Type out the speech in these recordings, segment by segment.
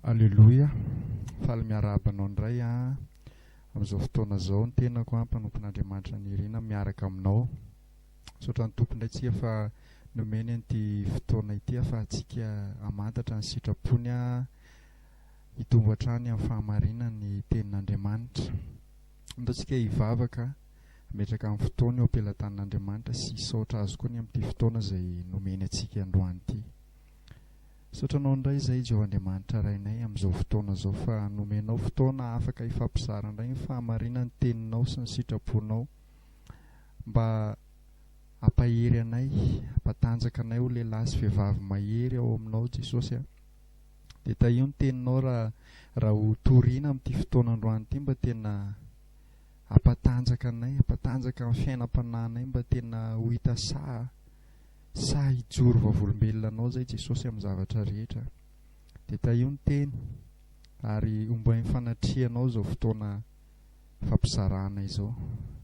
Aleloia, faly miarahaba anao indray an, amin'izao fotoana izao ny tenako an, mpanompon'Andriamanitra nirina miaraka aminao, misaotra ny Tompo indray tsika fa nomeny an'ity fotoana ity ahafahantsika hamantatra ny sitrapony an, hitombo hatrany amin'ny fahamarinana ny tenin'Andriamanitra. Ataontsika hivavaka, hametraka ny fotoana eo am-pelatanan'Andriamanitra sy hisaotra Azy koa ny amin'ity fotoana izay nomeny antsika androany ity. Misaotra anao indray izay Jehovah Andriamanitra Rainay amin'izao fotoana izao fa nomenao fotoana afaka hifampizara indray ny fahamarinana ny teninao sy ny sitraponao mba hampahery anay hampatanjaka anay ho lehilahy sy vehivavy mahery ao aminao Jesosy a dia tahio ny teninao raha raha ho torina amin'ity fotoana androany ity mba tena hampatanjaka anay hampatanjaka ny fiainam-panahinay mba tena ho hita saha Sa hijoro vavolombelona anao izay Jesosy amin'ny zavatra rehetra? Dia tahio ny teny ary ombain'ny fanatrihanao izao fotoana fampizarana izao.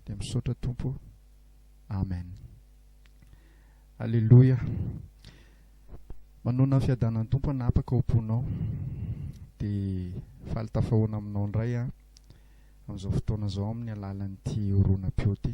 Dia misaotra Tompo ô. Amen. Aleloia. Manoana ny fiadanan'ny Tompo hanapaka ao am-ponao. Dia faly tafahoana aminao indray aho amin'izao fotoana izao amin'ny alalan'ity horonam-peo ity.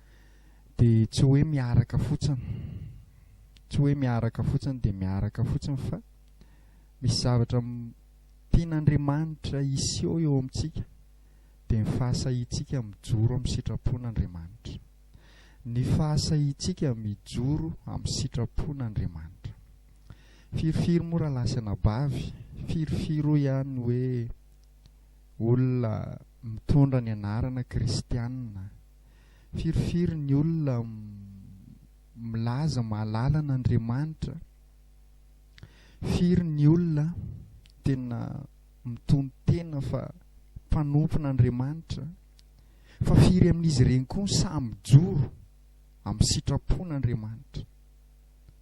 dia tsy hoe miaraka fotsiny, tsy hoe miaraka fotsiny dia miaraka fotsiny fa misy zavatra tian'Andriamanitra hiseho eo amintsika dia ny fahasahiantsika mijoro amin'ny sitrapon'Andriamanitra. Ny fahasahiantsika mijoro amin'ny sitrapon'Andriamanitra. Firifiry moa rahalahy sy anabavy, firifiry hoy ihany hoe olona mitondra ny anarana kristianina, Firifiry ny olona milaza mahalala an'Andriamanitra? Firy ny olona tena mitonon-tena fa mpanompon'Andriamanitra? Fa firy amin'izy ireny koa no sahy mijoro amin'ny sitrapon'Andriamanitra?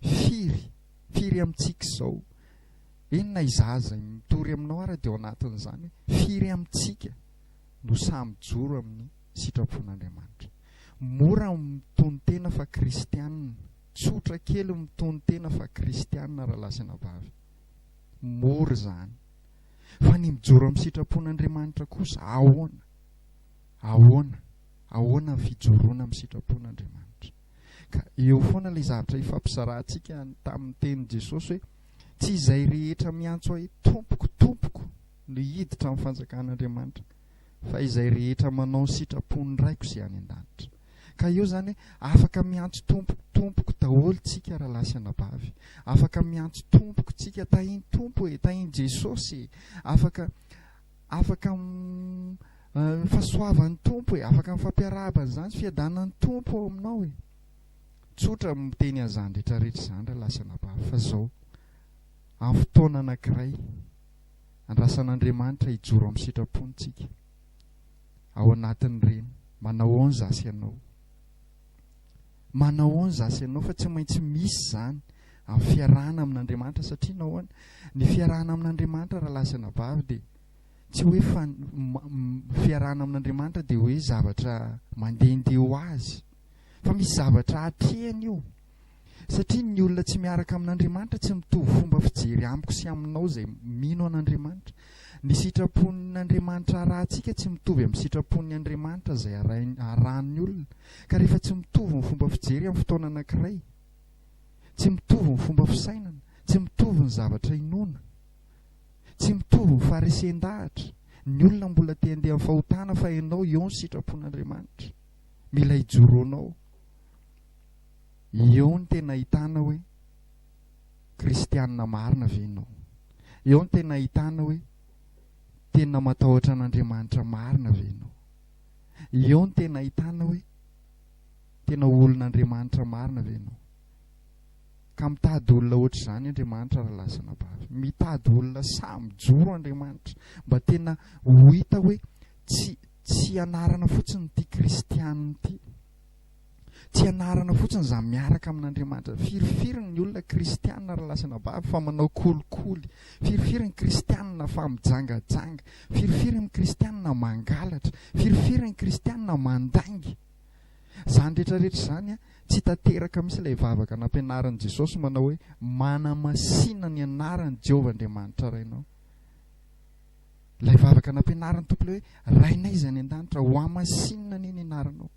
Firy? Firy amintsika izao? Eny na izaho aza mitory aminao ary dia ao anatin'izany hoe firy amintsika no sahy mijoro amin'ny sitrapon'Andriamanitra. Mora ny mitonon-tena fa kristianina, tsotra kely ny mitonon-tena fa kristianina rahalahy sy anabavy. Mora izany. Fa ny mijoro amin'ny sitrapon'Andriamanitra kosa ahoana? Ahoana? Ahoana ny fijoroana amin'ny sitrapon'Andriamanitra? Ka eo foana ilay zavatra ifampizarahantsika tamin'ny tenin'i Jesosy hoe tsy izay rehetra miantso ahy tompoko tompoko no hiditra amin'ny fanjakan'Andriamanitra fa izay rehetra manao ny sitrapon'ny Raiko izay any an-danitra. Ka eo izany hoe afaka miantso Tompo, Tompoko daholo tsika rahalahy sy anabavy. Afaka miantso Tompoko tsika, Tahin'i Tompo e, Tahin'i Jesosy e. Afaka, afaka ny fahasoavan'ny Tompo e, afaka ny fampiarahabana izany, fiadanan'ny Tompo ao aminao e. Tsotra miteny an'izany rehetra rehetra izany rahalahy sy anabavy fa izao, amin'ny fotoana anankiray Andrasan'Andriamanitra hijoro amin'ny sitrapony tsika ao anatin'ireny. Manao aon zasy ianao. Manao aon zasy ianao fa tsy maintsy misy zany amin'ny fiarahana amin'Andriamanitra satria nahoana? Ny fiarahana amin'Andriamanitra raha lahy sy anabavy dia tsy hoe fa fiarahana amin'Andriamanitra dia hoe zavatra mandehandeha ho azy fa misy zavatra atrehany io. Satria ny olona tsy miaraka amin'Andriamanitra tsy mitovy fomba fijery amiko sy aminao izay mino an'Andriamanitra. Ny sitrapon'Andriamanitra arahantsika tsy mitovy amin'ny sitrapon'ny Andriamanitra izay arahin'ny olona. Ka rehefa tsy mitovy ny fomba fijery amin'ny fotoana anankiray, tsy mitovy ny fomba fisainana, tsy mitovy ny zavatra inoana, tsy mitovy ny faharesen-dahatra, ny olona mbola te handeha amin'ny fahotana fa ianao eo ny sitrapon'Andriamanitra. Mila hijoro ho anao. Eo no tena ahitana hoe kristianina marina ve ianao? Eo no tena ahitana hoe tena matahotra an'Andriamanitra marina ve ianao? Eo no tena ahitana hoe tena olon'Andriamanitra marina ve ianao? Ka mitady olona ohatr'izany Andriamanitra raha lasa anabavy. Mitady olona sahy mijoro Andriamanitra mba tena ho hita hoe tsy tsy anarana fotsiny ity kristianina ity. Tsy anarana fotsiny izany miaraka amin'Andriamanitra. Firifiry ny olona kristiana ary lasa anabavy fa manao kolikoly? Firifiry ny kristiana fa mijangajanga? Firifiry ny kristiana mangalatra? Firifiry ny kristiana mandainga? Izany rehetrarehetra izany tsy tanteraka mihitsy ilay vavaka nampianarin'i Jesosy manao hoe manamasina ny anaran'i Jehovah Andriamanitra Rainao. Ilay vavaka nampianarin'ny Tompo ilay hoe Rainay izay any an-danitra, hohamasinina anie ny anaranao.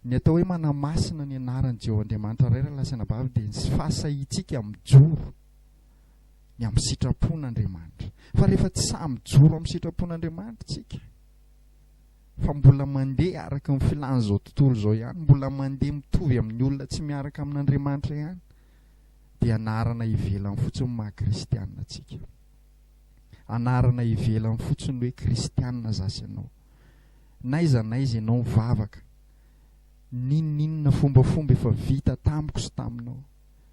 Ny atao hoe manamasina ny anaran'i Jeho Andriamanitra Ray Ralala sy Anabavy dia ny fahasahiantsika mijoro ny amin'ny sitrapon'Andriamanitra. Fa rehefa tsy sahy mijoro amin'ny sitrapon'Andriamanitra isika, fa mbola mandeha araka ny filan'izao tontolo izao ihany, mbola mandeha mitovy amin'ny olona tsy miaraka amin'Andriamanitra ihany, dia anarana ivelany fotsiny maha kristianina antsika. Anarana ivelany fotsiny hoe kristianina za sy ianao. N'aiza n'aiza ianao mivavaka, n'inon'inona fombafomba efa vita tamiko sy taminao,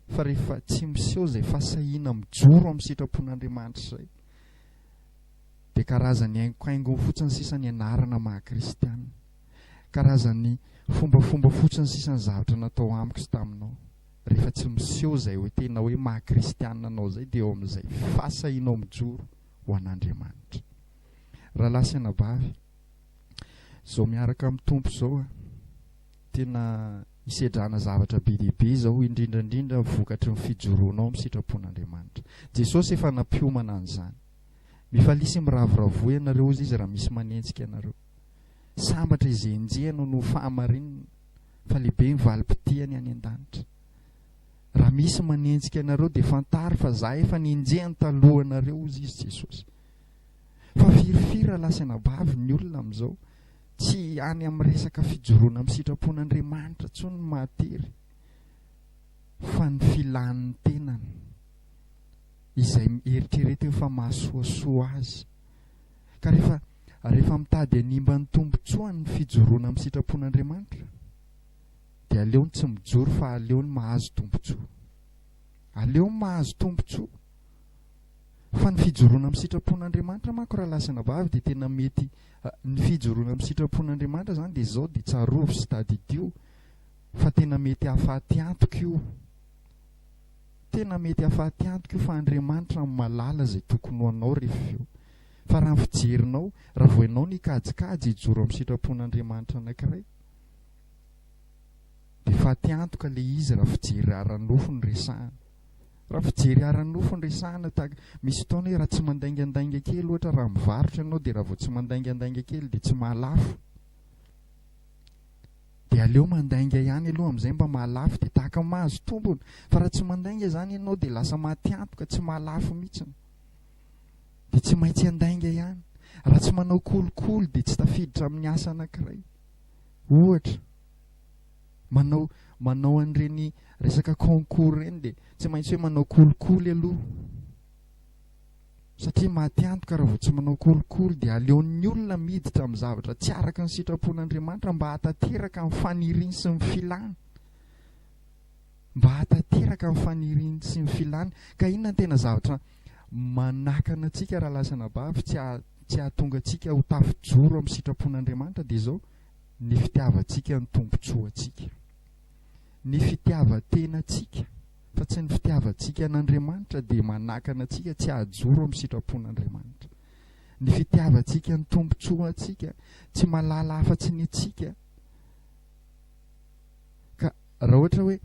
fa rehefa tsy miseho izay fahasahiana mijoro amin'ny sitrapon'Andriamanitra izay, dia karazan'ny haingohaingony fotsiny sisa ny anarana maha-kristiana, karazan'ny fombafomba fotsiny sisa ny zavatra natao amiko sy taminao. Rehefa tsy miseho izay hoe tena hoe maha-kristiana anao izay, dia eo amin'izay fahasahianao mijoro ho an'Andriamanitra. Rahalahy sy anabavy, izao miaraka amin'ny Tompo izao a, tena hisedrana zavatra be dia be izao, indrindra indrindra vokatry ny fijoroanao amin'ny sitrapon'Andriamanitra. Jesosy efa nampiomana an'izany. Mifalia sy miravoravoa ianareo, hozy Izy, raha misy manenjika anareo. Sambatra izy enjehina noho fahamarinana, fa lehibe ny valim-pitihany any an-danitra. Raha misy manenjika anareo, dia fantaro fa za efa nenjehiny talohanareo, hozy Izy, Jesosy. fa firy firy raha lasa anabavy ny olona amin'izao, tsy any amin'ny resaka fijoroana amin'ny sitrapon'Andriamanitra intsony no mahatery fa ny filan'ny tenany izay eritreretiny fa mahasoasoa azy ka rehefa rehefa mitady hanimba ny tombontsoany ny fijoroana amin'ny sitrapon'Andriamanitra dia aleony tsy mijoro fa aleony mahazo tombontsoa aleony mahazo tombontsoa Fa ny fijoroana amin'ny sitrapon'Andriamanitra manko raha lahy sy anabavy dia tena mety ny fijoroana amin'ny sitrapon'Andriamanitra izany dia izao dia tsarovy sy tadidio fa tena mety hahafaty antoka io tena mety hahafaty antoka io fa Andriamanitra no malala izay tokony ho anao rehefa avy eo fa raha ny fijerinao raha vao ianao ny kajikajy hijoro amin'ny sitrapon'Andriamanitra anankiray dia faty antoka ilay izy raha fijery ara-nofo no resahana Raha fijery ara-nofo no resahana tahaka, misy fotoana hoe raha tsy mandaingandainga kely ohatra raha mivarotra ianao dia raha vao tsy mandaingandainga kely dia tsy mahalafo. Dia aleo mandainga ihany aloha amin'izay mba mahalafo dia tahaka ny mahazo tombony. Fa raha tsy mandainga izany ianao dia lasa maty antoka, tsy mahalafo mihitsiny. Dia tsy maintsy handainga ihany. Raha tsy manao kolikoly dia tsy tafiditra amin'ny asa anankiray. Ohatra. Manao manao an'ireny resaka concours ireny dia tsy maintsy hoe manao kolikoly aloha satria maty antoka raha vao tsy manao kolikoly dia aleon'ny olona miditra amin'ny zavatra tsy araka ny sitrapon'Andriamanitra mba hatateraka ny faniriny sy ny filany mba hatateraka ny faniriny sy ny filany ka inona ny tena zavatra manakana antsika raha lasana bavy tsy tsy hahatonga antsika ho tafijoro amin'ny sitrapon'Andriamanitra dia izao ny fitiavantsika ny tombontsoantsika, ny fitiavan-tenantsika, fa tsy ny fitiavantsika an'Andriamanitra dia manakana antsika tsy hahajoro amin'ny sitrapon'Andriamanitra. Ny fitiavantsika ny tombontsoantsika tsy mahalala afa-tsy ny antsika, Raha ohatra hoe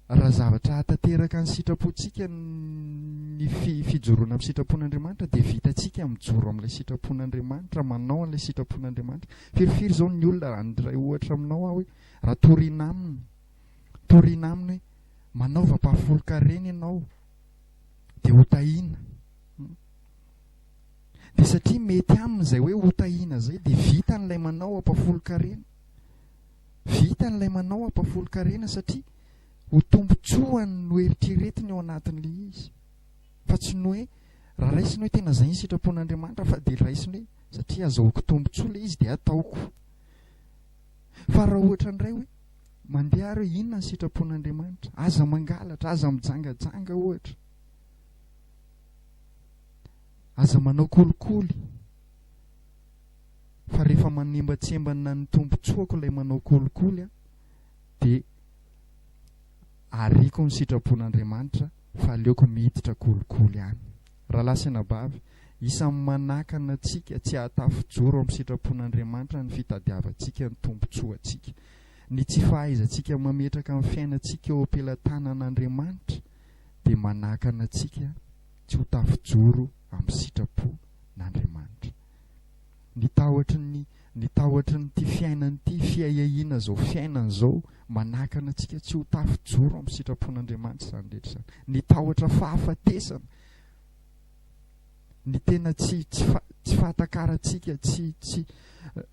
raha zavatra hahatanteraka ny sitrapontsika ny fi fijoroana amin'ny sitrapon'Andriamanitra dia vitantsika mijoro amin'ilay sitrapon'Andriamanitra, manao an'ilay sitrapon'Andriamanitra. Firifiry izao ny olona raha handray ohatra aminao aho hoe raha toriana aminy, toriana aminy hoe manaova ampahafolon-karena ianao dia ho tahiana. Dia satria mety aminy izay hoe ho tahiana izay dia vitan'ilay manao ampahafolon-karena. Vitany ilay manao hampahafolon-karena satria ho tombontsoany no eritreretiny ao anatiny ilay izy fa tsy ny hoe raha raisiny hoe tena izay ny sitrapon'Andriamanitra fa dia raisiny hoe satria azahoako tombontsoa ilay izy dia ataoko. Fa raha ohatra indray hoe mandeha ary hoe inona ny sitrapon'Andriamanitra, aza mangalatra, aza mijangajanga ohatra, aza manao kolikoly. fa rehefa manembatsembana ny tombontsoako ilay manao kolikoly aho dia ariako ny sitrapon'Andriamanitra fa aleoko miditra kolikoly any. Rahalahy sy anabavy, isan'ny manakana antsika tsy hahatafijoro amin'ny sitrapon'Andriamanitra ny fitadiavantsika ny tombontsoantsika. Ny tsy fahaizantsika mametraka ny fiainantsika eo am-pelatanan'Andriamanitra dia manakana antsika tsy ho tafijoro amin'ny sitrapon'Andriamanitra. ny tahotry ny ny tahotry ny ity fiainana ity fiahiahiana zao fiainana zao manakana antsika tsy ho tafy joro amin'ny sitrapon'Andriamanitra izany rehetra izany ny tahotra fahafatesana ny tena tsy tsy fa tsy fahatakarantsika tsy tsy eh,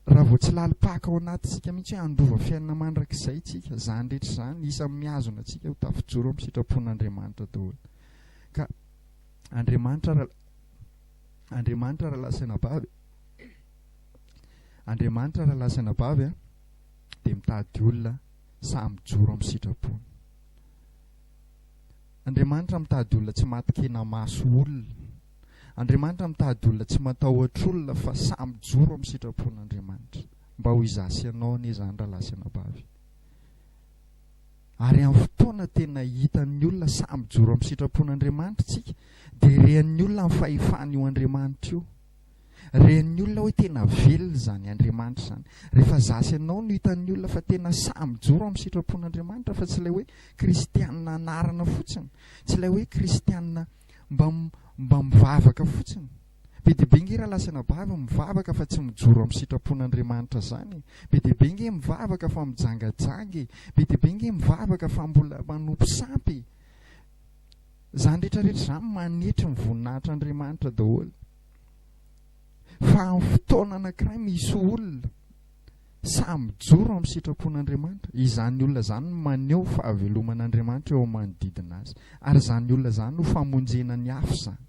raha vao tsy lalim-paka ao anatintsika mihitsy hoe handova fiainana mandrakizay tsika izany rehetra izany isan'ny mihazona antsika ho tafijoro amin'ny sitrapon'Andriamanitra daholo ka Andriamanitra Andriamanitra raha lasa anabavy Andriamanitra raha lasa anabavy a dia mitady olona samy mijoro amin'ny sitrapony Andriamanitra mitady olona tsy matin-kena maso olona Andriamanitra mitady olona tsy matahotr'olona fa samy mijoro amin'ny sitrapon'Andriamanitra mba ho izaho sy ianao anie izany raha lasa anabavy Ary amin'ny fotoana tena hitan'ny olona sahy mijoro amin'ny sitrapon'Andriamanitra isika dia rean'ny olona ny fahefan'io Andriamanitra io. Rean'ny olona hoe tena velona izany Andriamanitra izany. Rehefa izaho sy ianao no hitan'ny olona fa tena sahy mijoro amin'ny sitrapon'Andriamanitra fa tsy ilay hoe kristianina anarana fotsiny, tsy ilay hoe kristianina mba mba mivavaka fotsiny. Be dia be nge raha lasa anabavy mivavaka fa tsy mijoro amin'ny sitrapon'Andriamanitra zany e! Be dia be nge mivavaka fa mijangajanga e! Be dia be nge mivavaka fa mbola manompo sampy e! Zany rehetra rehetra zany manetry ny voninahitr'Andriamanitra daholo. Fa amin'ny fotoana anankiray misy olona sahy mijoro amin'ny sitrapon'Andriamanitra, izany olona zany no maneho fahaveloman'Andriamanitra eo amin'ny manodidina azy. Ary zany olona zany no famonjena ny hafa zany.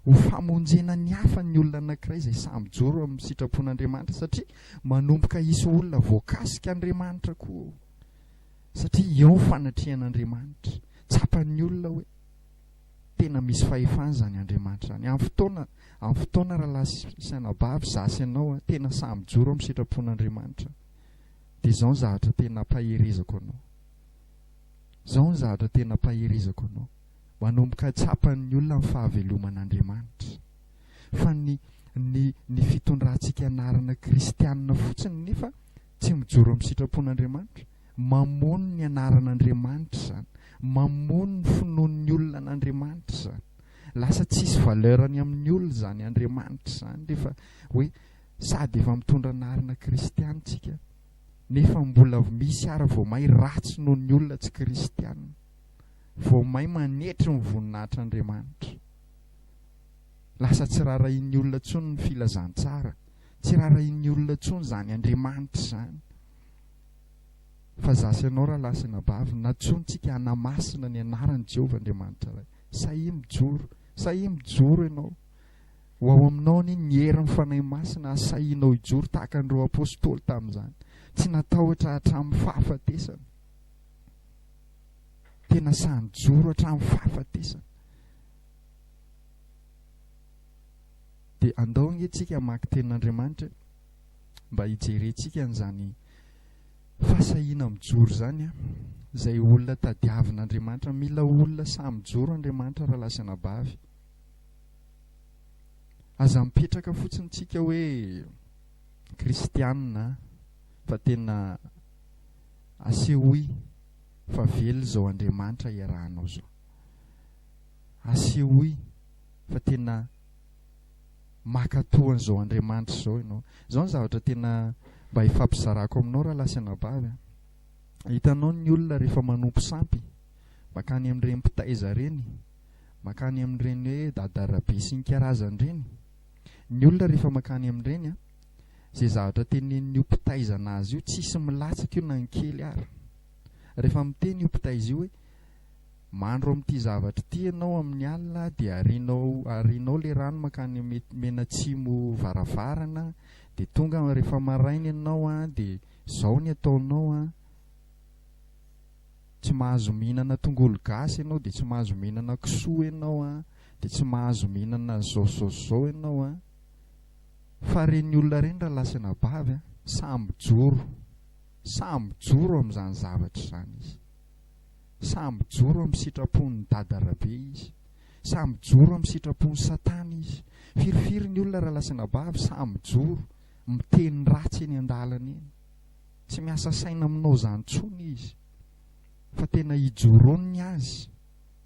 ho famonjena ny hafa ny olona anankiray izay sahy mijoro amin'ny sitrapon'Andriamanitra satria manomboka hisy olona voakasika Andriamanitra koa ao satria eo ny fanatrehan'Andriamanitra tsapan'ny olona hoe tena misy fahefana izany Andriamanitra izany amin'ny fotoana amin'ny fotoana rahalahy sy anabavy izaho sy ianao tena sahy mijoro amin'ny sitrapon'Andriamanitra dia izao ny zavatra tena ampaherezako anao izao ny zavatra tena ampaherezako anao Manomboka tsapan'ny olona ny fahaveloman'Andriamanitra. Fa ny ny ny fitondrantsika anarana kristianina fotsiny nefa tsy mijoro amin'ny sitrapon'Andriamanitra? Mamono ny anaran'Andriamanitra izany. Mamono ny finoan'ny olona an'Andriamanitra izany. Lasa tsisy valeur ny amin'ny olona izany Andriamanitra izany rehefa hoe sady efa mitondra anarana kristianina tsika nefa mbola misy ara vao may ratsy noho ny olona tsy kristianina. vao may manetry ny voninahitr' Andriamanitra. Lasa tsy raharahian'ny olona intsony ny filazantsara, tsy raharahian'ny olona intsony izany Andriamanitra izany. Fa za sy ianao rahalahy sy anabavy, nantsointsika hanamasina ny anaran'i Jehovah Andriamanitra Ray. Sahia mijoro, sahia mijoro ianao. Ho ao aminao anie ny herin'ny Fanahy Masina hahasahianao hijoro tahaka an'ireo apostoly tamin'izany, tsy natahotra hatramin'ny fahafatesana. Tena sahy nijoro hatramin'ny fahafatesana. Dia andao ange tsika hamaky tenin'Andriamanitra mba hijerentsika an'izany fahasahiana mijoro izany an. Izay olona tadiavin'Andriamanitra, mila olona sahy mijoro Andriamanitra raha lahy sy anabavy. Aza mipetraka fotsiny tsika hoe kristianina fa tena Asehoy fa velona izao Andriamanitra iarahanao izao. Asehoy fa tena mankatoa an'izao Andriamanitra izao ianao. Izao ny zavatra tena mba hifampizarako aminao rahalahy sy anabavy a. Hitanao ny olona rehefa manompo sampy, mankany amin'ireny mpitaiza ireny, mankany amin'ireny hoe dadarabesy ny karazany ireny. Ny olona rehefa mankany amin'ireny a. Izay zavatra tenenin'io mpitay izana azy io, tsisy milatsaka io na ny kely ara. Rehefa miteny io mpitay izio hoe, Mandro amin'ity zavatra ity ianao amin'ny alina dia arianao arianao ilay rano mankany mety menatsimo varavarana dia tonga rehefa maraina ianao an dia izao ny ataonao an, tsy mahazo mihinana tongolo gasy ianao dia tsy mahazo mihinana kisoa ianao an, dia tsy mahazo mihinana izao izao izao ianao an. Fa reny olona reny raha lasa anabavy an, sahy mijoro, sahy mijoro amin'izany zavatra izany izy. Sahy mijoro amin'ny sitrapon'ny dada rabe izy. Sahy mijoro amin'ny sitrapon'i satana izy. Firifiry ny olona raha lasa anabavy sahy mijoro, miteny ratsy eny an-dalana eny. Tsy miasa saina aminao izany intsony izy. Fa tena ijoroany ny azy,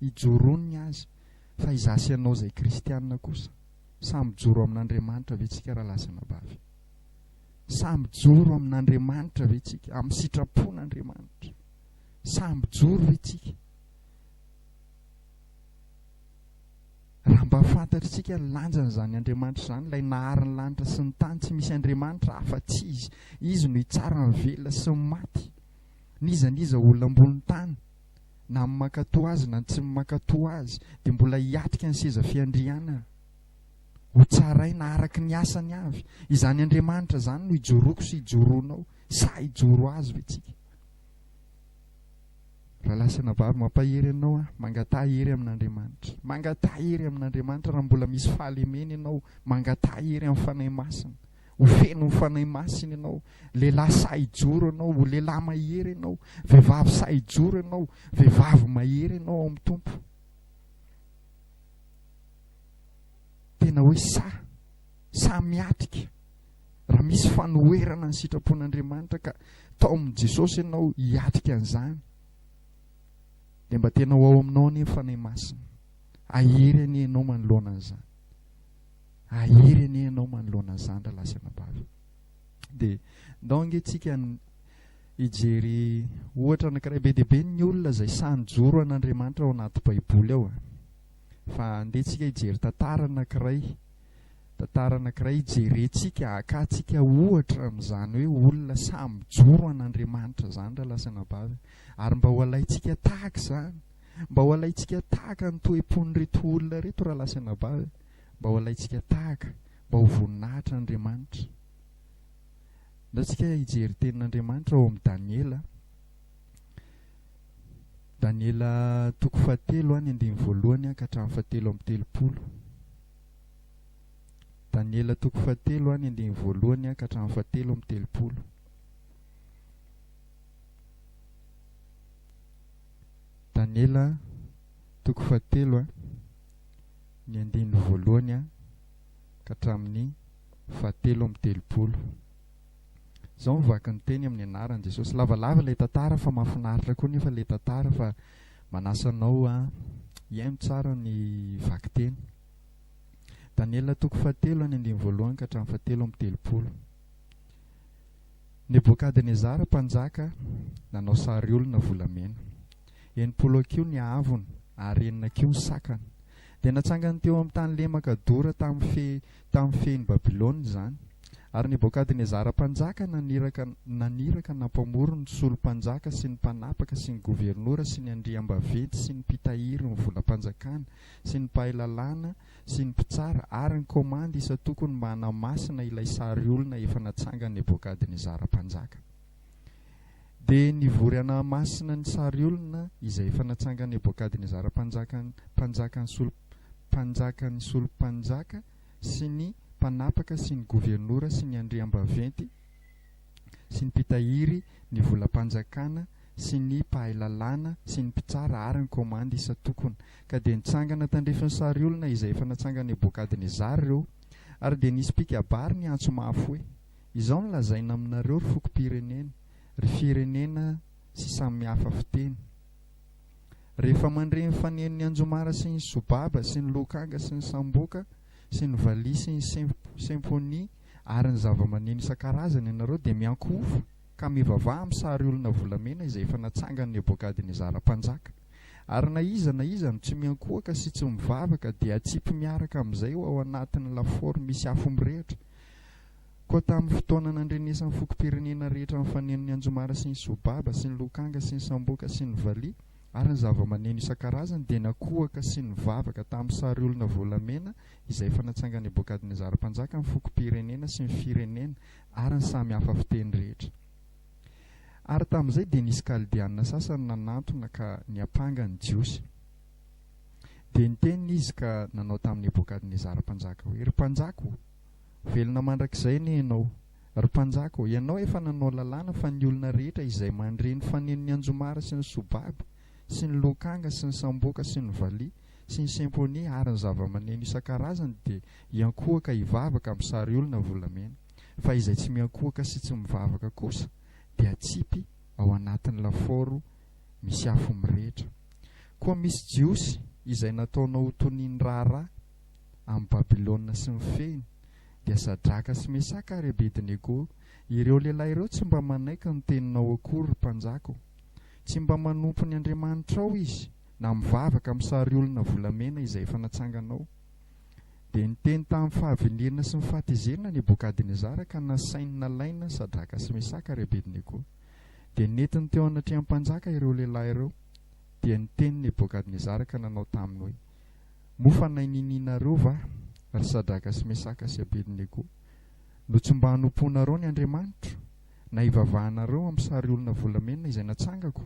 ijoroany ny azy. Fa izaho sy ianao izay kristiana kosa. Sahy mijoro amin'Andriamanitra ve tsika raha lasa anabavy? Sahy mijoro amin'Andriamanitra ve tsika? Amin'ny sitrapon'Andriamanitra? Sahy mijoro ve tsika? Raha mba fantatritsika ny lanjan'izany Andriamanitra izany, ilay nahary ny lanitra sy ny tany, tsy misy Andriamanitra hafa tsy izy. Izy no hitsara ny velona sy ny maty. N'iza n'iza olona ambony tany. na ny mankatoa azy na ny tsy ny mankatoa azy dia mbola hiatrika ny seza fiandrianana ho tsaraina araka ny asany avy. Izany Andriamanitra izany no ijoroako sy ijoroanao. Sa hijoro azy ve tsika? Rahalahy sy anabavy, mampahery anao aho, mangataha hery amin'Andriamanitra. Mangataha hery amin'Andriamanitra raha mbola misy fahalemena ianao, mangataha hery amin'ny Fanahy Masina. Ho feno ny Fanahy Masina ianao. Lehilahy sahy hijoro ianao. Ho lehilahy mahery ianao. Vehivavy sahy hijoro ianao. Vehivavy mahery ianao ao amin'ny Tompo. Tena hoe sahy. Sahy miatrika. Raha misy fanoherana ny sitrapon'Andriamanitra ka tao amin'i Jesosy ianao hiatrika an'izany, dia mba tena ho ao aminao anie ny Fanahy Masina. Ahery anie ianao manoloana an'izany. Ahery anie ianao manoloana ny zandry lahy sy anabavy. Dia ndao ange tsika hijery ohatra anankiray be dia be ny olona izay sahy nijoro an'Andriamanitra ao anaty baiboly ao. Fa ndeha tsika hijery tantara anankiray, tantara anankiray hijerentsika, hakantsika ohatra amin'izany hoe olona sahy mijoro an'Andriamanitra izany raha lasa anabavy. Ary mba ho alaintsika tahaka izany, mba ho alaintsika tahaka ny toe-pon'ireto olona ireto raha lasa anabavy. mba ho alaintsika tahaka, mba ho voninahitr' Andriamanitra. Ndaontsika hijery tenin' Andriamanitra ao amin'ny Daniela, Daniela toko fahatelo a, ny andininy voalohany a ka hatramin'ny fahatelo amby telopolo. Daniela toko fahatelo a, ny andininy voalohany a ka hatramin'ny fahatelo amby telopolo. Daniela toko fahatelo a. ny andininy voalohany ka hatramin'ny fahatelo amby telopolo. Izao ny vaky ny teny amin'ny anaran'i Jesosy. Lavalava ilay tantara fa mahafinaritra koa nefa ilay tantara fa manasa anao hihaino tsara ny vaky teny. Daniela toko fahatelo any andininy voalohany ka hatramin'ny fahatelo amby telopolo. Nebokadnezara mpanjaka nanao sary olona volamena. Enimpolo hakiho ny haavony ary enina hakiho ny sakany. Dia natsangany teo amin'ny tany lemaka dora tamin'ny fe tamin'ny fehin'i Babylona izany. Ary Nebôkadnezara mpanjaka naniraka naniraka nampamory ny solom-panjaka sy ny mpanapaka sy ny governora sy ny andriambaventy sy ny mpitahiry ny volam-panjakana sy ny mpahay lalàna sy ny mpitsara ary ny kômandy isan-tokony mba hanamasina ilay sary olona efa natsangan'i Nebôkadnezara mpanjaka. Dia nivory anà masina ny sary olona izay efa natsangan'i Nebôkadnezara mpanjaka mpanjaka ny solo mpanjaka ny solompanjaka sy ny mpanapaka sy ny governora sy ny andriambaventy sy ny mpitahiry ny volam-panjakana sy ny mpahay lalàna sy ny mpitsara ary ny kômandy isan-tokona. Ka dia nitsangana tandrify ny sary olona izay efa natsangan'i Nebôkadnezara ireo, ary dia nisy mpikabary niantso mahafoy Izao no lazaina aminareo ry fokom-pirenena, ry firenena sy samy hafa fiteny, Rehefa mandre ny fanenon'ny anjomara sy ny sobaba sy ny lokanga sy ny samboka sy ny valiha sy ny symphonies ary ny zavamaneno isan-karazany ianareo dia miankohofa ka mivavaha amin'ny sary olona volamena izay efa natsangan'i Nebokadnezara mpanjaka. Ary na iza na iza no tsy miankohoka sy tsy mivavaka dia atsipy miaraka amin'izay ho ao anatin'ny lafaoro misy afo mirehitra Koa tamin'ny fotoana nandrenesan'ny fokom-pirenena rehetra nifaneno ny anjomara sy ny sobaba sy ny lokanga sy ny samboka sy ny valiha ary ny zavamaneno isan-karazany dia nakohaka sy nivavaka tamin'ny sary olona volamena izay efa natsanga Nebokadnezara mpanjaka ny fokom-pirenena sy ny firenena ary ny samy hafa fiteny rehetra. Ary tamin'izay dia nisy Kaldeanina sasany nanantona ka niampanga ny Jiosy. Dia niteny izy ka nanao tamin'i Nebokadnezara mpanjaka hoe, Ry mpanjaka o! Velona mandrakizay anie ianao. Ry Mpanjaka ô, ianao efa nanao lalàna fa ny olona rehetra izay mandre ny fanenon'i Anjomara sy ny Sobaby sy ny Lokanga sy ny Samboka sy ny Valiha sy ny Symphonie ary ny zava-maneno isan-karazany dia hiankohoka hivavaka amin'ny sariolona volamena. Fa izay tsy miankohoka sy tsy mivavaka kosa dia atsipy ao anatin'ny lafaoro misy afo mirehitra. Koa misy Jiosy izay nataonao ho tonian'ny raharaha. amin'i Babylona sy ny fehiny, dia Sadraka sy Mesaka ary Abedinego, ireo lehilahy ireo tsy mba manaiky ny teninao akory, ry mpanjaka ô! Tsy mba manompo ny andriamanitrao izy, na mivavaka amin'ny sariolona volamena izay efa natsanganao. Dia niteny tamin'ny fahavenirina sy ny fahatezerana Nebokadnezara ka nasainy nalaina Sadraka sy Mesaka ary Abedinego. Dia nentiny teo anatrehan'ny mpanjaka ireo lehilahy ireo. Dia niteny Nebokadnezara ka nanao taminy hoe. Moa fa nainininareo va, ry Sadraka sy Mesaka sy Abednego? No tsy mba hanompoanareo ny andriamanitro, na hivavahanareo amin'ny sary olona volamena izay natsangako?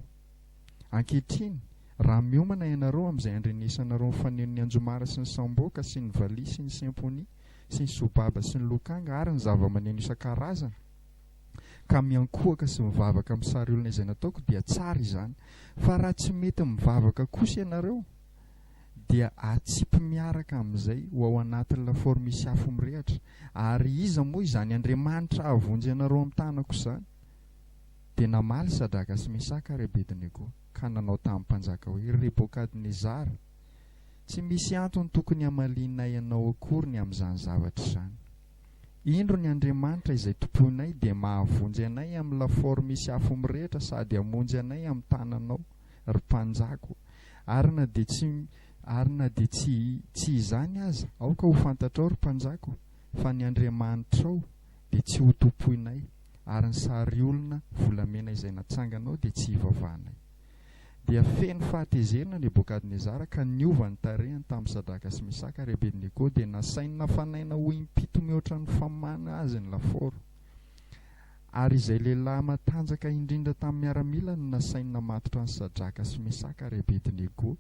Ankehitriny, raha miomana ianareo amin'izay handrenesanareo ny fanenon'ny anjomara sy ny samboka sy ny valiha sy ny semponia sy ny sobaba sy ny lokanga ary ny zavamaneno isan-karazany, ka miankohoka sy mivavaka amin'ny sary olona izay nataoko, dia tsara izany. Fa raha tsy mety mivavaka kosa ianareo, dia atsipy miaraka amin'izay ho ao anatin'ny lafaoro misy afo mirehatra. Ary iza moa izany Andriamanitra hahavonjy anareo amin'ny tanako izany? Dia namaly Sadraka sy Mesaka ary Abednego, ka nanao tamin'ny mpanjaka hoe, Ry Rebokadnezara, tsy misy antony tokony hamalianay anao akory ny amin'izany zavatra izany. Indro ny Andriamanitra izay tompoinay dia mahavonjy anay amin'ny lafaoro misy afo mirehatra sady hamonjy anay amin'ny tananao, ry mpanjako, ary na dia tsy, ary na dia tsy, tsy izany aza, aoka ho fantatrao, ry mpanjako, fa ny andriamanitrao dia tsy hotompoinay, ary ny sariolona volamena izay natsanganao dia tsy hivavahanay. Dia feno fahatezerana Nebokadnezara ka niova ny tarehiny tamin'i Sadraka sy Mesaka ary Abednego, dia nasainy nafanaina ho im-pito mihoatra ny famany azy ny lafaoro. Ary izay lehilahy matanjaka indrindra tamin'ny miaramila no nasainy namatotra an'i Sadraka sy Mesaka ary Abedinego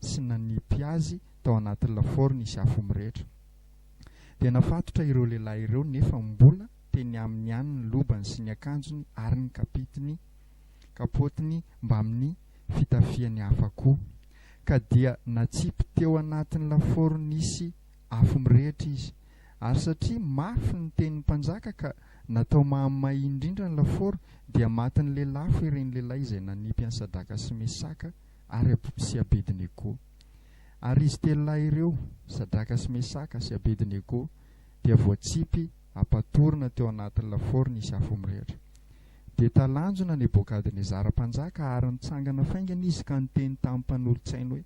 sy nanipy azy tao anatin'ny lafaoro nisy afo mirehitra. Dia nafatotra ireo lehilahy ireo nefa mbola teny aminy ihany ny lobany sy ny akanjony ary ny kapitiny, kapôtiny mbamin'ny fitafiany hafa koa. Ka dia natsipy teo anatin'ny lafaoro nisy Afo mirehitra izy. Ary satria mafy ny tenin'ny mpanjaka ka natao mahamay indrindra ny lafaoro, dia matin'ny lelafo ireny lehilahy izay nanipy an'i Sadraka sy Mesaka ary sy Abednego. Ary izy telo lahy ireo, Sadraka sy Mesaka sy Abednego, dia voatsipy hampatorina teo anatin'ny lafaoro nisy afo mirehitra. Dia talanjona Nebokadnezara mpanjaka ary nitsangana faingana izy ka niteny tamin'ny mpanolotsainy hoe,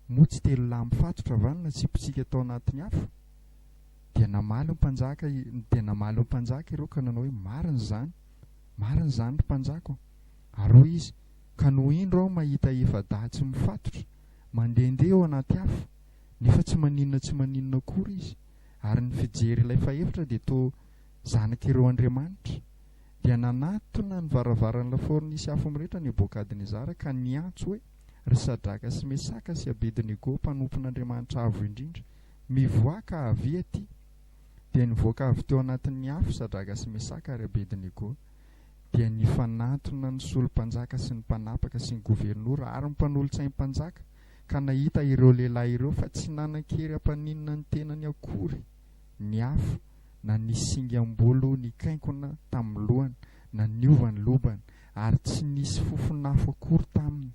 Moa tsy telo lahy mifatotra va no natsipitsika tao anatin'ny afo? Dia namaly ny mpanjaka, dia namaly ny mpanjaka ireo ka nanao hoe, Marina izany, marina izany ry mpanjaka ô. Ary hoy izy, Ka no indro aho mahita efa-dahy tsy mifatotra, mandehandeha eo anaty afo, nefa tsy maninona tsy maninona akory izy, ary ny fijery ilay fahefatra dia toa zanak'ireo andriamanitra. Dia nanatona ny varavaran'ny lafaoro nisy afo mirehitra Nebokadnezara ka niantso hoe, Ry Sadraka sy Mesaka sy Abednego, mpanompon'Andriamanitra Avo Indrindra, mivoaha ka avia aty! Dia nivoaka avy teo anatin'ny afo Sadraka sy Mesaka ary Abednego, dia nifanantona ny solo-mpanjaka sy ny mpanapaka sy ny governora ary ny mpanolotsaim-panjaka, ka nahita ireo lehilahy ireo fa tsy nanan-kery hampaninona ny tenany akory ny afo, na ny singam-bolo nikainkona tamin'ny lohany, na niova ny lobany, ary tsy nisy fofon'afo akory taminy.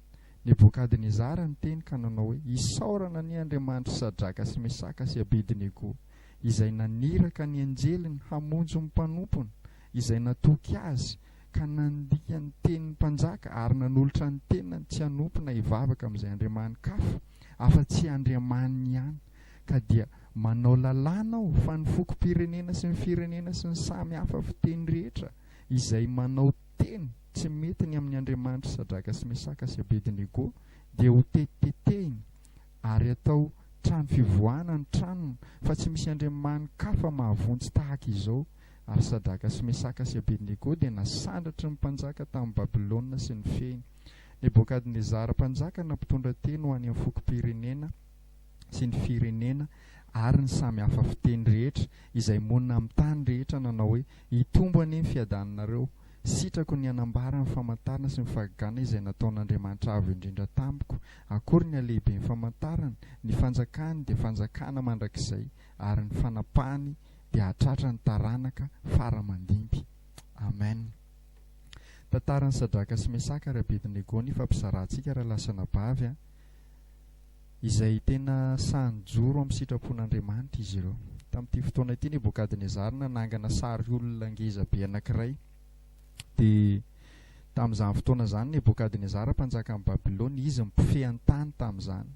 Nebokadnezara niteny ka nanao hoe, Isaorana anie Andriamanitry Sadraka sy Mesaka sy Abedinego, izay naniraka ny anjeliny hamonjy ny mpanompony, izay natoky azy, ka nandiha ny tenin'ny mpanjaka, ary nanolotra ny tenany tsy hanompo na hivavaka amin'izay andriamanin-kafa, afa-tsy Andriamaniny ihany, ka dia manao lalàna aho fa ny fokom-pirenena sy ny firenena sy ny samy hafa fiteny rehetra, izay manao teny tsy mety ny amin'ny andriamanitry Sadraka sy Mesaka sy Abedinego dia ho tetitetehina ary atao trano fivoahana ny tranony fa tsy misy andriamanin-kafa mahavonjy tahaka izao ary Sadraka sy Mesaka sy Abedinego dia nasandratry ny mpanjaka tamin'i Babylona sy nifehiny Nebokadnezara mpanjaka na mpitondra teny ho any amin'ny fokom-pirenena sy ny firenena ary ny samy hafa fiteny rehetra izay monina amin'ny tany rehetra nanao hoe, Hitombo anie ny fiadaninareo. Sitrako ny hanambara ny famantarana sy ny fahagagana izay nataon'Andriamanitra Avo Indrindra tamiko. Akory ny halehiben'ny famantarany, ny fanjakany dia fanjakana mandrakizay ary ny fanapahany dia hahatratra ny taranaka fara aman-dimby. Amen. Tantaran'i Sadraka sy Mesaka ary Abednego ny ifampizarantsika raha lasa anabavy an! izay tena sahy nijoro amin'ny sitrapon'Andriamanitra izy ireo. Tamin'ity fotoana ity, Nebokadnezara nanangana sary olona ngeza be anankiray. Dia tamin'izany fotoana izany, Nebokadnezara mpanjakan'i Babylona, izy no mpifehy ny tany tamin'izany.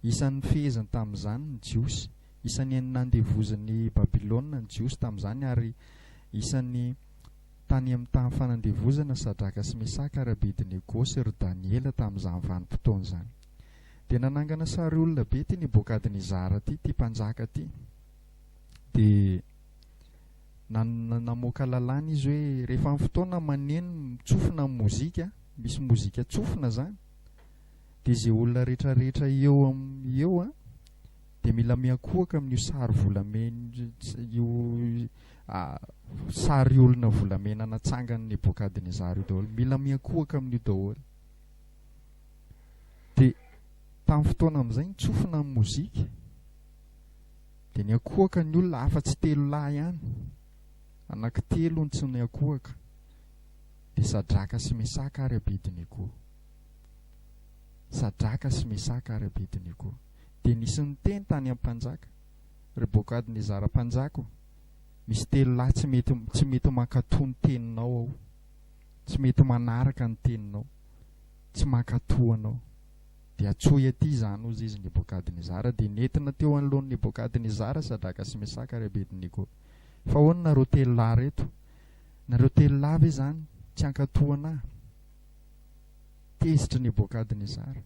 Isan'ny nifeheziny tamin'izany ny Jiosy. Isan'ny nandevozin'i Babylona ny Jiosy tamin'izany, ary isan'ny tany amin'ny tany fanandevozana Sadraka sy Mesaka ary Abedinego sy ry Daniela tamin'izany vanim-potoana izany. Dia nanangana sary olona be ity Nebokadnezara izara ity, ity mpanjaka ity. Dia namoaka lalàna izy hoe rehefa amin'ny fotoana maneno mitsofina amin'ny mozika, misy mozika tsofina izany, dia izay olona rehetrarehetra eo amin'ny eo an, dia mila miankohoka amin'io sary volamena io sary olona volamena natsangan'i Nebokadnezara io daholo. Mila miankohoka amin'io daholo. Dia tamin'ny fotoana amin'izay nitsofina ny mozika dia niankohoka ny olona afa-tsy telo lahy ihany, anaky telo no tsy niankohoka, dia Sadraka sy Mesaka ary Abednego. Sadraka sy Mesaka ary Abednego. Dia nisy niteny tany amin'ny mpanjaka, Ry Bokadnezara mpanjaka ô, misy telo lahy tsy mety, tsy mety mankatò ny teninao ao, tsy mety manaraka ny teninao. tsy mankatò anao. Dia antsoy atỳ izany, hozy izy, Nebôkadnezara. Dia nentina teo anoloan'i Nebôkadnezara Sadraka sy Mesaka ary Abednego. Fa ahoana nareo telo lahy ireto? Nareo telo lahy ve izany tsy hankatò anà? Tezitr'i Nebôkadnezara.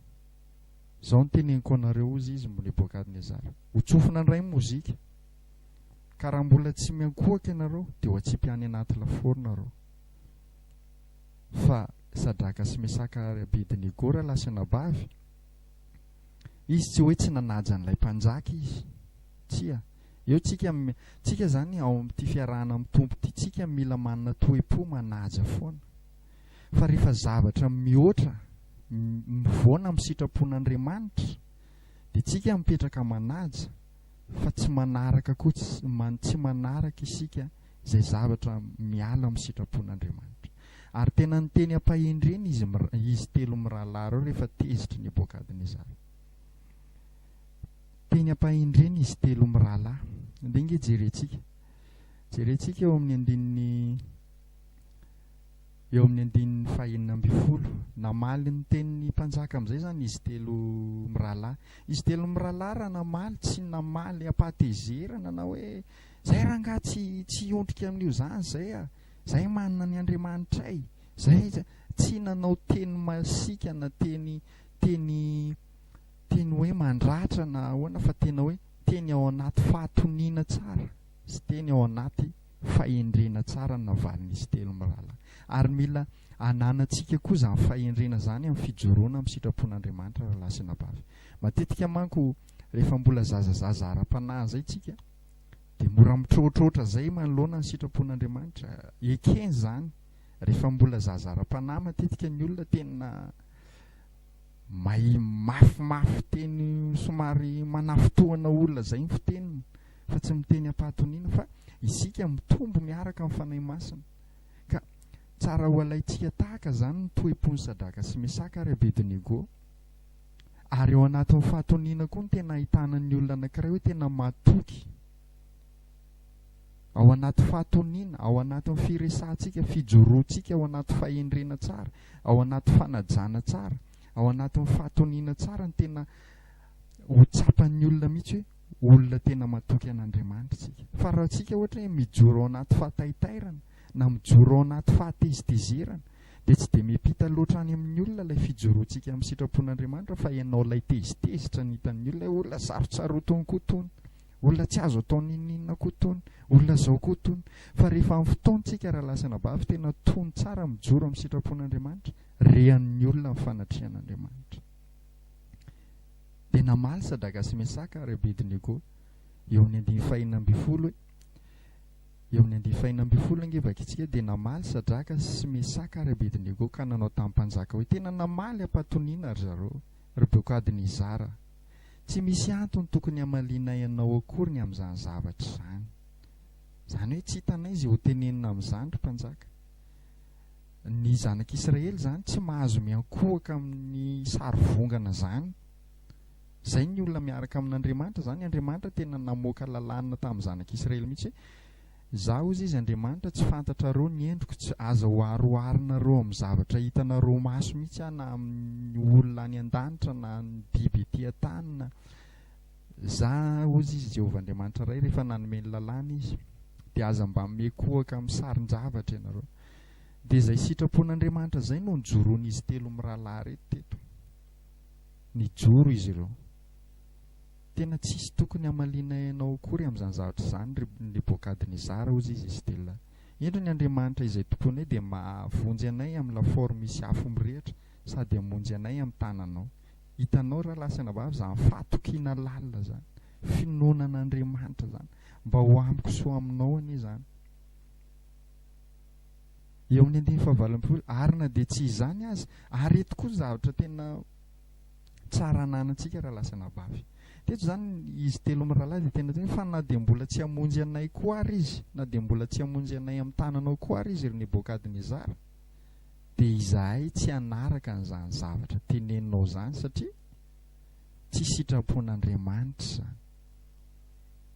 Izao no teneniko anareo, hozy izy, Nebôkadnezara, ho tsofina indray ny mozika, ka raha mbola tsy miankohoka ianareo, dia ho atsipy any anaty lafaoro nareo. fa Sadraka sy Mesaka ary Abednego rahalahy sy anabavy? Izy tsy hoe tsy nanaja an'ilay mpanjaka izy. Tsia. Eo tsika, tsika izany ao amin'ity fiarahana amin'ny Tompo ity, tsika mila manana toe-po manaja foana. Fa rehefa zavatra mihoatra, mivoana amin'ny sitrapon'Andriamanitra, dia tsika mipetraka manaja, fa tsy manaraka koa, tsy manaraka isika, izay zavatra miala amin'ny sitrapon'Andriamanitra. Ary tena niteny am-pahendrena izy, izy telo mirahalahy ireo rehefa tezitry Nebokadnezara. Teny am-pahendrena izy telo mirahalahy. Dia nge jerentsika. Jerentsika eo amin'ny andininy eo amin'ny andininy fahenina ambin'ny folo. Namaly ny tenin'ny mpanjaka amin'izay izany izy telo mirahalahy. Izy telo mirahalahy raha namaly, tsy namaly am-pahatezerana na hoe Zay rangah tsy tsy hiondrika amin'io zany zay ah! Zay manana ny Andriamanitray! Zay tsy nanao teny masiaka na teny teny teny hoe mandratra na ahoana fa tena hoe teny ao anaty fahatoniana tsara sy teny ao anaty fahendrena tsara ny navalin'izy telo mirahalahy. Ary mila ananantsika koa zany fahendrena zany amin'ny fijoroana amin'ny sitrapon'Andriamanitra ralahy sy anabavy. Matetika manko rehefa mbola zazazaza ara-panahy izay tsika dia mora mitroatroatra izay manoloana ny sitrapon'Andriamanitra. Ekeny izany, rehefa mbola zaza ara-panahy matetika ny olona tena may mafimafy teny somary manafotohana olona izay ny fiteniny fa tsy miteny am-pahatoniana fa isika mitombo miaraka amin'ny fanahy masina. Ka tsara ho alaintsika tahaka izany ny toe-pon'i Sadraka sy Mesaka ary Abednego. ary ao anatin'ny fahatoniana koa no tena ahitana ny olona anankiray hoe tena matoky ao anaty fahatoniana ao anatin'ny firesahantsika fijoroantsika ao anaty fahendrena tsara ao anaty fanajana tsara ao anatin'ny fahatoniana tsara ny tena ho tsapan'ny olona mihitsy hoe olona tena matoky an'andriamanitra tsika fa raha tsika ohatra hoe mijoro ao anaty fahataitairana na mijoro ao anaty fahatezitezerana, dia tsy dia miampita loatra any amin'ny olona ilay fijoroantsika amin'ny sitrapon'Andriamanitra fa ianao ilay tezitezitra ny hitan'ny olona hoe olona sarotsarotiny koa itony, olona tsy azo atao n'inon'inona koa itony, olona izao koa itony. Fa rehefa amin'ny fotoantsika raha lasa anabavy tena tony tsara mijoro amin'ny sitrapon'Andriamanitra, rehanin'ny olona ny fanatrehan'Andriamanitra. Dia namaly Sadraka sy Mesaka ary Abednego eo amin'ny andininy fahenina ambin'ny folo hoe, Eo amin'ny andiany fahiny ambin'ny folo ange vakitsika dia namaly Sadraka sy Mesaka ary Abedinego ka nanao tamin'ny mpanjaka hoe, Tena namaly am-patoniana ry zareo, ry Beokadnezara. Tsy misy antony tokony hamalianay anao akory ny amin'izany zavatra izany. Izany hoe tsy hitanay izay ho tenenina amin'izany, ry mpanjaka. Ny zanak'Israely izany tsy mahazo miankohoka amin'ny sarivongana izany. Izay ny olona miaraka amin'Andriamanitra, izany Andriamanitra tena namoaka lalàna tamin'ny zanak'i Israely mihitsy hoe, Izaho hozy izy Andriamanitra, tsy fantatrareo ny endriko, tsy, aza hoaroharinareo amin'ny zavatra hitanareo maso mihitsy aho na amin'ny olona any an-danitra na ny biby ety an-tany na. Izaho hozy izy Jehovah Andriamanitra iray, rehefa nanome ny lalàna izy. Dia aza mba mihoakohoaka amin'ny sarin-javatra ianareo. Dia izay sitrapon'Andriamanitra izay no nijoroan'izy telo mirahalahy ireto teto. Nijoro izy ireo. Tena tsisy tokony hamaliana ianao akory amin'izany zavatra izany, ry Nebokadnezara, hozy izy Estela. Indro ny Andriamanitra izay tomponay dia mahavonjy anay amin'ny lafaoro misy afo mirehitra sady hamonjy anay amin'ny tananao. Hitanao, rahalahy sy anabavy, izany fahatokiana lalina izany, finoana an'Andriamanitra izany. Mba ho amiko sy ho aminao anie izany. eo amin'ny andininy fahavalompolo ary na dia tsy izany aza ary eto koa ny zavatra tena tsara ananantsika raha lasa anabavy teto izany izy telo mirahalahy dia tena tena fa na dia mbola tsy hamonjy anay koa ary izy na dia mbola tsy hamonjy anay amin'ny tananao koa ary izy ry Nebokadnezara dia izahay tsy hanaraka an'izany zavatra teneninao izany satria tsy sitrapon'Andriamanitra izany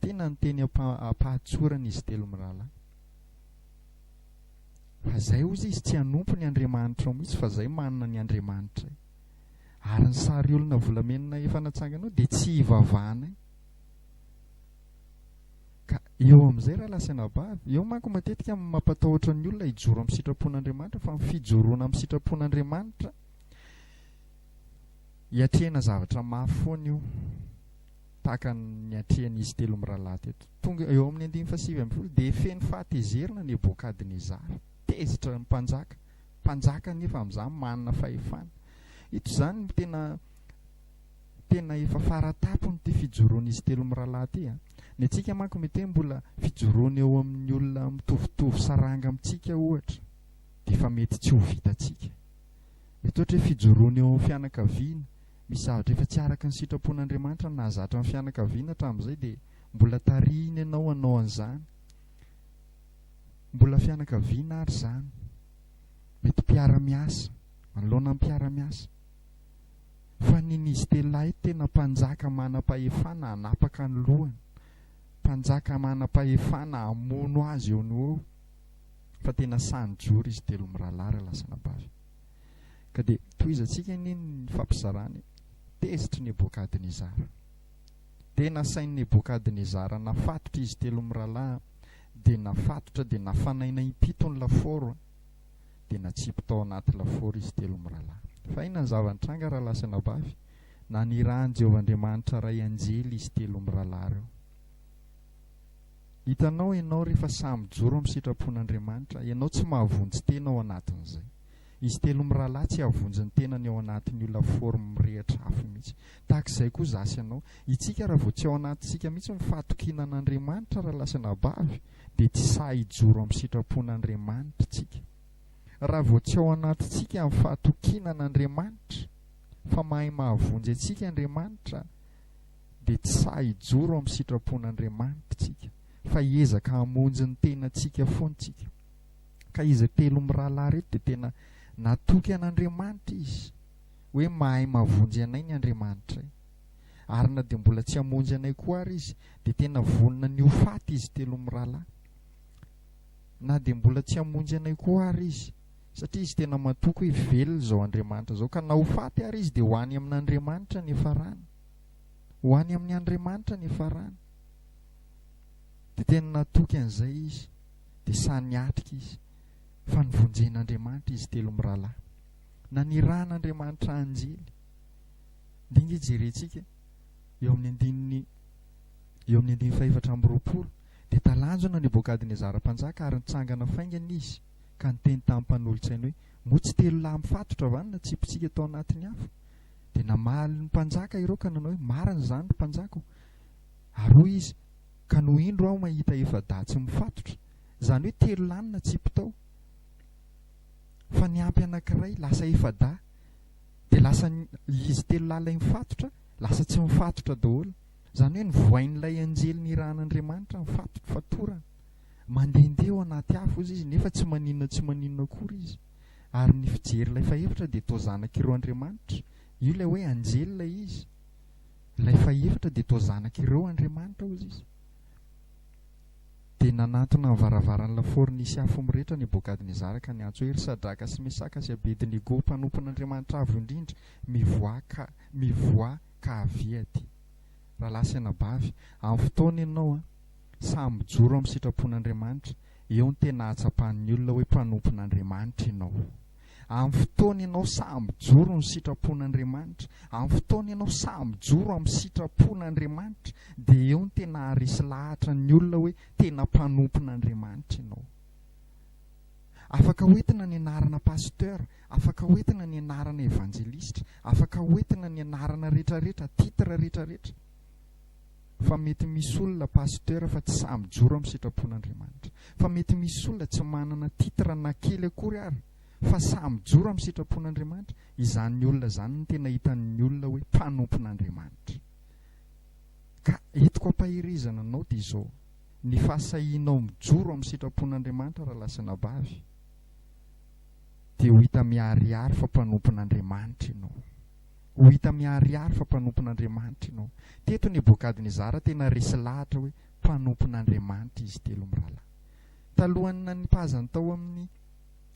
tena ny teny am-pahatsorana izy telo mirahalahy Fa zay ozy izy tsy hanompo ny andriamanitrao mihitsy fa zay manana ny andriamanitray. Ary ny sary olona volamenona efa natsangana ao dia tsy hivavahanay. Ka eo amin'izay raha lasa anabavy, eo manko matetika amin'ny mampatahotra ny olona hijoro amin'ny sitrapon'Andriamanitra fa ny fijoroana amin'ny sitrapon'Andriamanitra hiatrehina zavatra mafy foana io. tahaka ny atrehin'izy telo mirahalahy teto. Tonga eo amin'ny andininy fahasivy ambin'ny folo dia feno fahatezerana Nebokadnezara. Tezitra ny mpanjaka. Mpanjaka anefa amin'izany manana fahefana. Ito izany no tena tena efa fara tampon'ity fijoroan'izy telo mirahalahy ity. Ny antsika manko mety hoe mbola fijoroana eo amin'ny olona mitovitovy saranga amintsika ohatra dia efa mety tsy ho vitantsika. Mety ohatra hoe fijoroana eo amin'ny fianakaviana, misy zavatra efa tsy araka ny sitrapon'Andriamanitra nahazatra ny fianakaviana hatramin'izay dia mbola tarihiny ianao hanao an'izany. Mbola fianakaviana ary izany. Mety mpiara-miasa, manoloana ny mpiara-miasa. Fa ny n'izy telo lahy ito tena mpanjaka manam-pahefana hanapaka ny lohany, mpanjaka manam-pahefana hamono azy eo no eo. fa tena sahy nijoro izy telo mirahalahy raha lasa anabavy. Ka dia tohizantsika anie ny nifampizarana e! Tezitr'i Nebôkadnezara. Dia nasain'i Nebôkadnezara nafatotra izy telo mirahalahy, dia nafatotra dia nafanaina impito ny lafaoro, dia natsipy tao anaty lafaoro izy telo mirahalahy. Fa inona ny zava-nitranga raha lasa anabavy? Nanirahan'i Jehovah Andriamanitra iray anjely izy telo mirahalahy ireo. Hitanao ianao rehefa sahy mijoro amin'ny sitrapon'Andriamanitra, ianao tsy mahavonjy tena ao anatin'izay. Izy telo mirahalahy tsy hahavonjy ny tenany ao anatin'ny olona forme mirehitra afo mihitsy. Tahaka izay koa za sy ianao. Itsika raha vao tsy ao anatintsika mihitsy ny fahatokiana an'Andriamanitra raha lasa anabavy dia tsy sahy hijoro amin'ny sitrapon'Andriamanitra tsika. Raha vao tsy ao anatintsika ny fahatokiana an'Andriamanitra fa mahay mahavonjy antsika Andriamanitra dia tsy sahy hijoro amin'ny sitrapon'Andriamanitra isika fa hiezaka hamonjy ny tenantsika foana isika. Ka izy telo mirahalahy ireto dia tena natoky an'Andriamanitra izy hoe mahay mavonjy anay ny Andriamanitray. Ary na dia mbola tsy hamonjy anay koa ary izy dia tena vonona ny ho faty izy telo mirahalahy. Na dia mbola tsy hamonjy anay koa ary izy satria izy tena matoky hoe velona izao Andriamanitra izao ka na ho faty ary izy dia ho any amin'Andriamanitra ny hiafarany. Ho any amin' Andriamanitra ny farany. Dia tena natoky an'izay izy, dia sahy niatrika izy, fa novonjen' Andriamanitra izy telo mirahalahy. Nanirahan' Andriamanitra anjely. Dia ange jerentsika eo amin'ny andininy eo amin'ny andininy fahefatra amby roapolo, dia talanjona Nebôkadnezara mpanjaka ary nitsangana faingana izy ka niteny tamin'ny mpanolotsainy hoe, Moa tsy telo lahy mifatotra va no natsipitsika tao anatin'ny afo? Dia namaly ny mpanjaka ireo ka nanao hoe, Marina izany, ry mpanjaka ô! Ary hoy izy, Ka no indro aho mahita efa-dahy tsy mifatotra, izany hoe telo lahy natsipy tao, fa niampy anankiray, lasa efa-dahy, dia lasa izy telo lahy ilay mifatotra, lasa tsy mifatotra daholo. Izany hoe novohain'ilay anjely nirahan'Andriamanitra ny fatorana. Mandehandeha ao anaty afo izy, nefa tsy maninona tsy maninona akory izy. ary ny fijery ilay fahefatra dia toa zanak'ireo andriamanitra, io ilay hoe anjely ilay izy, ilay fahefatra dia toa zanak'ireo andriamanitra hozy izy. Dia nanantona amin'ny varavaran'ny lafaoro nisy afo mirehitra Nebokadnezara ka niantso hoe, Ry Sadraka sy Mesaka sy Abedinego, mpanompon'Andriamanitra Avo Indrindra, mivoaha ka, mivoaha ka avia aty. Rahalahy sy anabavy, amin'ny fotoana ianao an, sahy mijoro amin'ny sitrapon'Andriamanitra, Eo no tena ahatsapan'ny olona hoe mpanompon'Andriamanitra ianao. Amin'ny fotoana ianao sahy mijoro ny sitrapon'Andriamanitra, amin'ny fotoana ianao sahy mijoro amin'ny sitrapon'Andriamanitra, dia eo no tena haharesy lahatra ny olona hoe tena mpanompon'Andriamanitra ianao. Afaka hoentina ny anarana pasteur, afaka hoentina ny anarana evanjelistra, afaka hoentina ny anarana rehetra rehetra, titre rehetra rehetra. Fa mety misy olona pasteur fa tsy sahy mijoro am sitrapon Andriamanitra. Fa mety misy olona tsy manana titre na kely akory ary fa sahy mijoro am sitrapon Andriamanitra, izany olona zany no tena hitan ny olona hoe mpanompon Andriamanitra. Ka entiko ampaherezana anao dia izao, ny fahasahianao mijoro am sitrapon Andriamanitra raha lahy sy anabavy dia ho hita miharihary fa mpanompon Andriamanitra ianao. Ho hita miharihary fa mpanompon'Andriamanitra ianao. Teto Nebokadnezara tena resy lahatra hoe mpanompon'Andriamanitra izy telo mirahalahy. Talohan'ny nanipazany tao amin'ny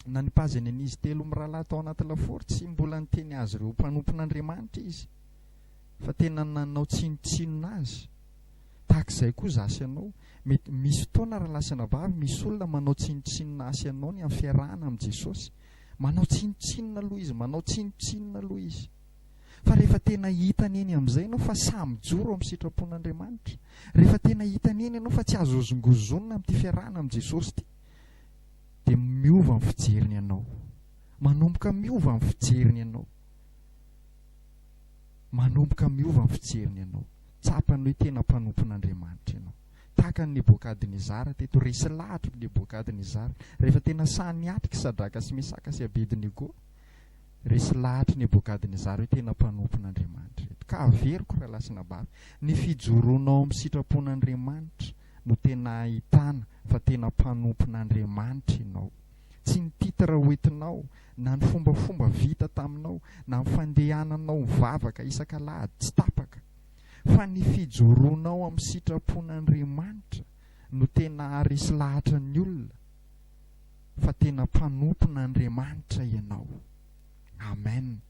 nanipazany an'izy telo mirahalahy tao anaty lafaoro, tsy mbola niteny azy ireo ho mpanompon'Andriamanitra izy, fa tena nanao tsinontsinona azy. Tahaka izay koa izaho sy ianao, mety misy fotoana rahalahy sy anabavy, misy olona manao tsinontsinona ahy sy ianao ny amin'ny fiarahana amin'i Jesosy. Manao tsinontsinona aloha izy, manao tsinontsinona aloha izy. Fa rehefa tena hitany eny amin'izay ianao fa sahy mijoro eo amin'ny sitrapon'Andriamanitra, rehefa tena hitany eny ianao fa tsy azo hozongozonina amin'ity fiarahana amin'i Jesosy ity, dia miova ny fijeriny anao. Manomboka miova ny fijeriny anao. Manomboka miova ny fijeriny anao. Tsapany hoe tena mpanompon'Andriamanitra ianao. tahaka an'i Nebokadnezara teto, resy lahatr'i Nebokadnezara, rehefa tena sahy niatrika i Sadraka sy Mesaka sy Abednego, resy lahatr'i Nebokadnezara hoe tena mpanompon'Andriamanitra ireto, ka averiko raha lahy sy nabavy, ny fijoroanao amin'ny sitrapon'Andriamanitra no tena ahitana fa tena mpanompon'Andriamanitra ianao, tsy ny titre hoentinao, na ny fombafomba vita taminao, na ny fandehananao mivavaka isak'alahady tsy tapaka, fa ny fijoroanao amin'ny sitrapon'Andriamanitra no tena haharesy lahatra ny olona fa tena mpanompon'Andriamanitra ianao. Amen.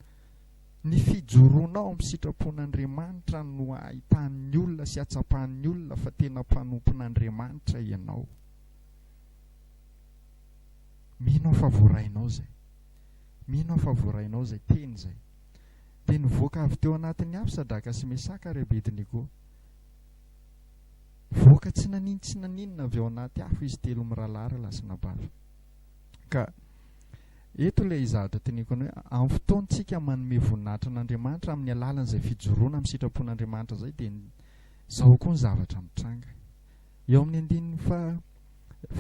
Ny fijoroanao amin'ny sitrapon'Andriamanitra no hahitan'ny olona sy hatsapan'ny olona fa tena mpanompon'Andriamanitra ianao. Mino aho fa voarainao izay. Mino aho fa voarainao izay teny izay. Dia nivoaka avy teo anatiny avy Sadraka sy Mesaka ary Abednego. Nivoaka tsy naninontsinaninona avy ao anaty afo izy telo mirahalahy ry lahy sy nabavy. Ka eto ilay zavatra teneniko anao hoe amin'ny fotoantsika manome voninahitra an'Andriamanitra amin'ny alalan'izay fijoroana amin'ny sitrapon'Andriamanitra izay dia izao koa ny zavatra mitranga. Eo amin'ny andininy fa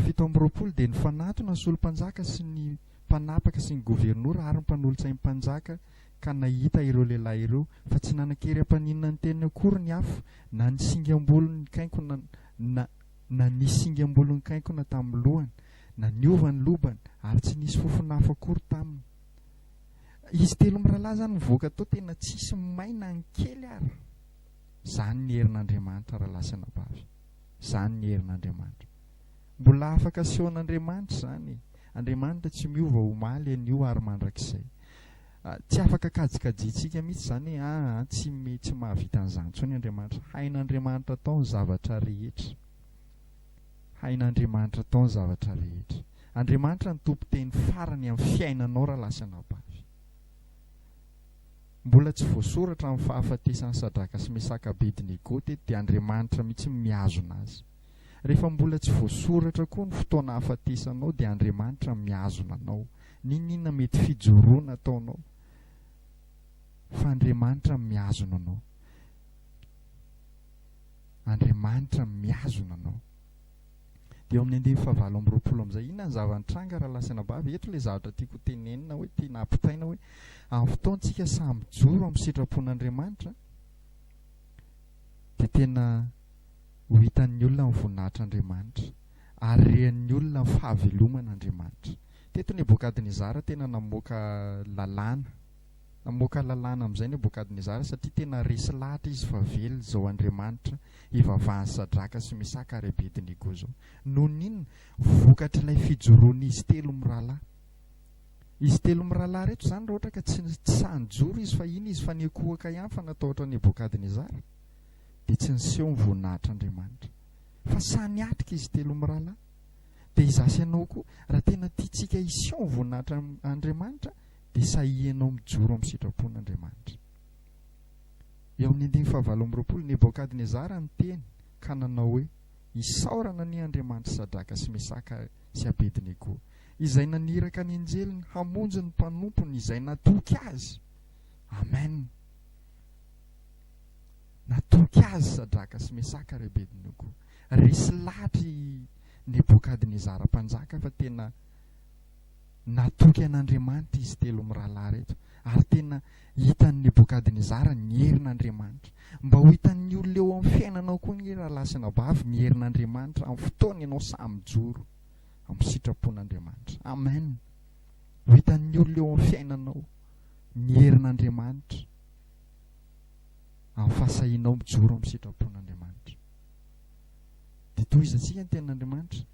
fito amby roapolo dia nifanatona ny solompanjaka sy ny mpanapaka sy ny governora ary ny mpanolotsain'ny mpanjaka ka nahita ireo lehilahy ireo fa tsy nanan-kery hampaninona ny teniny akory ny afo na ny singam-bolon'ny kainkona na na ny singam-bolon'ny kainkona tamin'ny lohany na niova ny lobany ary tsy nisy fofona afo akory taminy izy telo mirahalahy izany mivoaka tao tena tsisy may na ny kely ary izany ny herin'Andriamanitra raha lahy sy anabavy izany ny herin'Andriamanitra Mbola afaka asehon'Andriamanitra izany e! Andriamanitra tsy miova omaly, anio ary mandrakizay. Tsy afaka kajikajiantsika mihitsy izany hoe aa tsy tsy mahavita an'izany intsony Andriamanitra. Hain'Andriamanitra atao ny zavatra rehetra. Hain'Andriamanitra atao ny zavatra rehetra. Andriamanitra no tompon-teny farany amin'ny fiainanao rahalahy sy anabavy. Mbola tsy voasoratra amin'ny fahafatesan'i Sadraka sy Mesaka Abednego teto dia Andriamanitra mihitsy no mihazona azy. Rehefa mbola tsy voasoratra koa ny fotoana hahafatesanao dia Andriamanitra no mihazona anao. N'inon'inona mety fijoroana ataonao fa Andriamanitra no mihazona anao. Andriamanitra no mihazona anao. Dia eo amin'ny andinin'ny fahavalo amby roapolo amin'izay, inona ny zava-nitranga rahalahy sy anabavy? Eto ilay zavatra tiako hotenenina hoe tiana hampitaina hoe amin'ny fotoantsika sahy mijoro amin'ny sitrapon'Andriamanitra dia tena ho hitan'ny olona ny voninahitr'Andriamanitra, ary rehanin'ny olona ny fahaveloman'Andriamanitra. Teto Nebokadnezara tena namoaka lalàna. Namoaka lalàna amin'izay Nebokadnezara satria tena resy lahatra izy fa velona izao Andriamanitra ivavahan'i Sadraka sy Mesaka ary Abednego izao. Noho ny inona? Vokatr'ilay fijoroan'izy telo mirahalahy. Izy telo mirahalahy ireto izany raha ohatra ka tsy sahy nijoro izy fa iny izy fa niankohoka ihany fa natahotra an'i Nebokadnezara. dia tsy niseho ny voninahitr'Andriamanitra. Fa sahy niatrika izy telo mirahalahy. Dia izaho sy ianao koa, raha tena tiantsika hiseho ny voninahitr'Andriamanitra, dia sahihinao mijoro amin'ny sitrapon'Andriamanitra. Eo amin'ny andininy fahavalo amby roapolo, Nebôkadnezara niteny ka nanao hoe, Isaorana anie Andriamanitr'i Sadraka sy Mesaka sy Abednego, izay naniraka ny anjeliny hamonjy ny mpanompony izay natoky azy! Amen! Natoky azy Sadraka sy Mesaka ry Abednego. Resy lahatra i Nebokadnezara mpanjaka fa tena natoky an'Andriamanitra izy telo mirahalahy reto. Ary tena hitan'i Nebokadnezara ny herin'Andriamanitra. Mba ho hitan'ny olona eo amin'ny fiainanao koa ny rahalahy sy anabavy ny herin'Andriamanitra amin'ny fotoana ianao sahy mijoro amin'ny sitrapon'Andriamanitra. Amen. Ho hitan'ny olona eo amin'ny fiainanao ny herin'Andriamanitra. amin'ny fahasahianao mijoro amin'ny sitrapon'Andriamanitra. Dia tohizantsika ny tenin'Andriamanitra.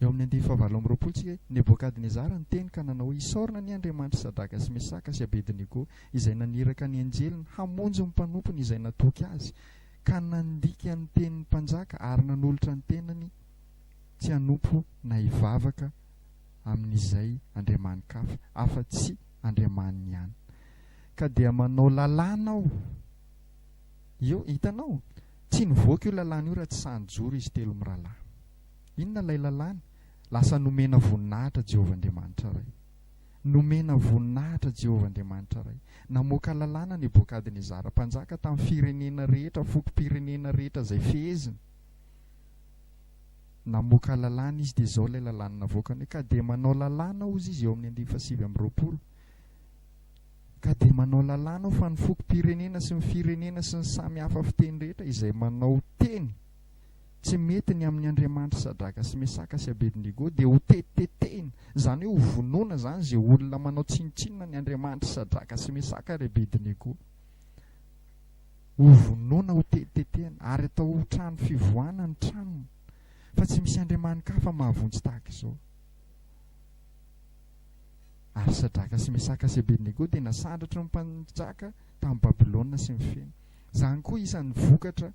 Eo amin'ny andinin'ny fahavalo amby roapolo tsika, Nebokadnezara niteny ka nanao hoe, Isaorana anie Andriamanitry Sadraka sy Mesaka sy Abednego, izay naniraka ny anjeliny hamonjy ny mpanompony izay natoky azy, ka nandika ny tenin'ny mpanjaka ary nanolotra ny tenany tsy hanompo na hivavaka amin'izay andriamani-kafa afa-tsy Andriamaniny ihany. Ka dia manao lalàna aho. Io, hitanao? Tsy nivoaka io lalàna io raha tsy sahy nijoro izy telo mirahalahy. Inona ilay lalàna? Lasa nomena voninahitra Jehovah Andriamanitra Ray. Nomena voninahitra Jehovah Andriamanitra Ray. Namoaka lalàna Nebokadnezara mpanjaka tamin'ny firenena rehetra, fokom-pirenena rehetra izay feheziny. namoaka lalàna izy dia izao ilay lalàna navoakany hoe ka dia manao lalàna aho hozy izy eo amin'ny andininy fahasivy amby roapolo ka dia manao lalàna aho fa ny fokom-pirenena sy ny firenena sy ny samy hafa fiteny rehetra izay manao teny tsy mety ny amin'ny andriamanitry sadraka sy mesaka sy abednego dia ho tetitetehina izany hoe ho vonoana izany izay olona manao tsinontsinona ny andriamanitry sadraka sy mesaka ary abednego Hovonoina, hotetitetehina, ary atao ho trano fivoahana ny tranony, fa tsy misy andriamani-kafa mahavonjy tahaka izao. Ary Sadraka sy Mesaka sy Abednego dia nasandratry ny mpanjaka tany Babylona sy ny feny. Izany koa isan'ny vokatra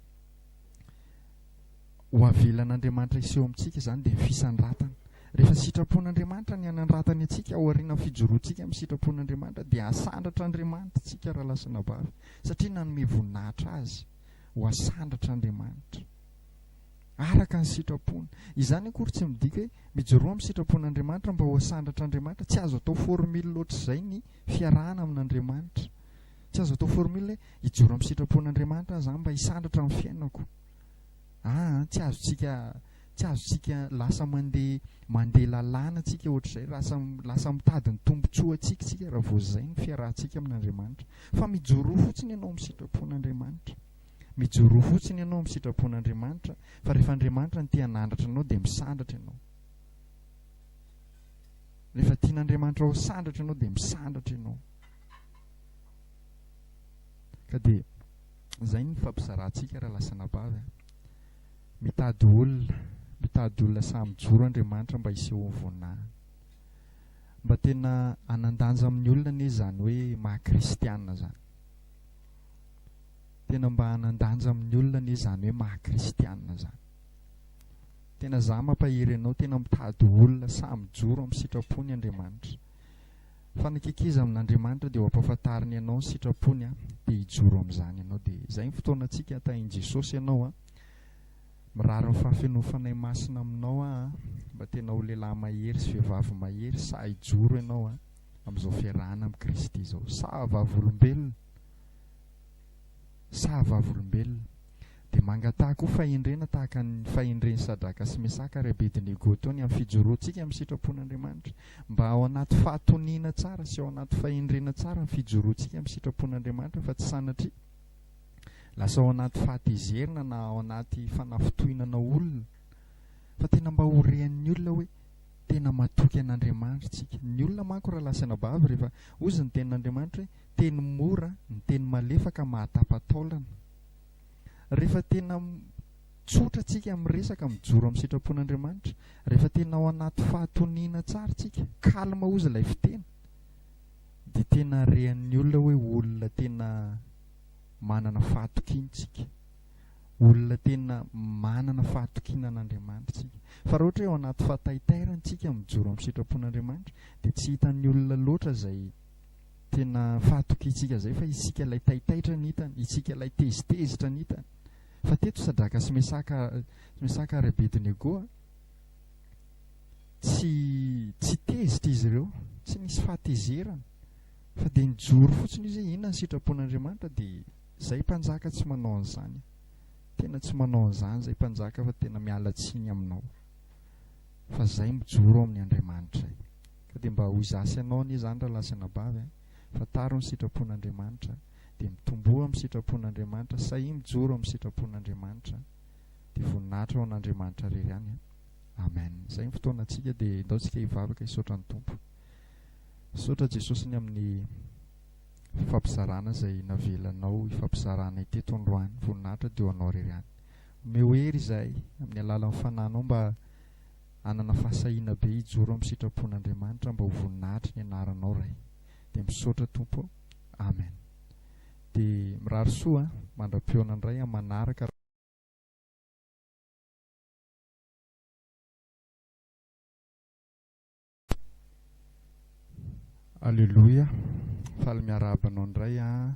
ho avelan'Andriamanitra hiseho amintsika izany dia ny fisandratana. Rehefa sitrapon'Andriamanitra ny hanandratany antsika ao aorianan'ny fijoroantsika amin'ny sitrapon'Andriamanitra dia hasandratra Andriamanitra antsika raha lahy sy anabavy satria nanome voninahitra azy ho hasandratra Andriamanitra araka ny sitrapony. Izany akory tsy midika hoe mijoroa amin'ny sitrapon'Andriamanitra mba ho hasandratra Andriamanitra, tsy azo atao formule loatra izay ny fiarahana amin'Andriamanitra. Tsy azo atao formule hoe hijoro amin'ny sitrapon'Andriamanitra aho izany mba hisandratra amin'ny fiainako. Ah, tsy azontsika tsy azontsika lasa mandeha mandeha lalàna antsika ohatr'izay, lasa lasa mitady ny tombontsoa antsika isika raha vao izay ny fiarahantsika amin'Andriamanitra. Fa mijoroa fotsiny ianao amin'ny sitrapon'Andriamanitra. Mijoroa fotsiny ianao amin'ny sitrapon'Andriamanitra fa rehefa Andriamanitra no te hanandratra anao dia misandratra ianao. Rehefa tian'Andriamanitra ho sandratra ianao dia misandratra ianao. Ka dia izay ny fampizarantsika raha lasa anabavy a. Mitady olona, mitady olona sahy mijoro Andriamanitra mba hisehoan'ny voninahiny. Mba tena hanan-danja amin'ny olona anie izany hoe maha-kristiana izany. Tena mba hanan-danja amin'ny olona anie izany hoe maha-kristiana izany. Tena izaho mampahery anao, tena mitady olona sahy mijoro amin'ny sitrapony Andriamanitra. Fa ny kikiza amin'Andriamanitra dia ho ampahafantariny anao ny sitrapony an, dia hijoro amin'izany ianao. Dia izay ny fotoanantsika hatahin'i Jesosy ianao an, mirary ny fahafenoan'ny Fanahy Masina aminao aho an, mba tena ho lehilahy mahery sy vehivavy mahery sahy hijoro ianao an, amin'izao fiarahana amin'i Kristy izao. Sahy vavolombelona! Sahy vavolombelona! Dia mangataha koa fahendrena tahaka ny fahendren'i Sadraka sy Mesaka ary Abedinego teo ny amin'ny fijoroantsika amin'ny sitrapon'Andriamanitra. Mba ao anaty fahatoniana tsara sy ao anaty fahendrena tsara ny fijoroantsika amin'ny sitrapon'Andriamanitra fa tsy sanatria lasa ao anaty fahatezerana na ao anaty fanafintohinana olona fa tena mba ho rean'ny olona hoe tena matoky an'Andriamanitra tsika. Ny olona manko raha lasa anabavy rehefa ozy ny tenin'Andriamanitra hoe teny mora, ny teny malefaka mahatapa-taolana. Rehefa tena tsotra tsika amin'ny resaka mijoro amin'ny sitrapon'Andriamanitra, rehefa tena ao anaty fahatoniana tsara tsika, calme ozy ilay fiteny, dia tena rean'ny olona hoe olona tena manana fahatokiana tsika, olona tena manana fahatokiana an'Andriamanitra tsika. Fa raha ohatra hoe ao anaty fahataitairana tsika mijoro amin'ny sitrapon'Andriamanitra, dia tsy hitan'ny olona loatra izay Tena fahatokiantsika izay fa isika ilay taitaitra ny hitany, isika ilay tezitezitra ny hitany. Fa teto Sadraka sy Mesaka, Mesaka ary Abednego, tsy, tsy tezitra izy ireo, tsy nisy fahatezerana. Fa dia nijoro fotsiny izy hoe inona ny sitrapon'Andriamanitra dia izay mpanjaka tsy manao an'izany. Tena tsy manao an'izany izay mpanjaka fa tena miala tsiny aminao. Fa izay mijoro ao amin'ny Andriamanitray. Ka dia mba ho za sy anao anie zany rahalahy sy anabavy a! Fantaro ny sitrapon'Andriamanitra dia mitomboa amin'ny sitrapon'Andriamanitra sahia mijoro amin'ny sitrapon'Andriamanitra dia voninahitra ho an'Andriamanitra rery ihany a! Amen! Zay ny fotoanantsika dia indao tsika hivavaka hisaotra ny Tompo. Misaotra Jesosy ny amin'ny fifampizarana izay navelanao hifampizara anay teto androany, voninahitra dia ho anao rery ihany. Omeo hery izahay amin'ny alalan'ny fananao mba Hanana fahasahiana be hijoro amin'ny sitrapon'Andriamanitra mba ho voninahitriny ianaranao Ray dia misaotra Tompo Amen dia mirary soa mandra-pihaona indray amin'ny manaraka raha Aleloia, faly miarahaba anao indray an.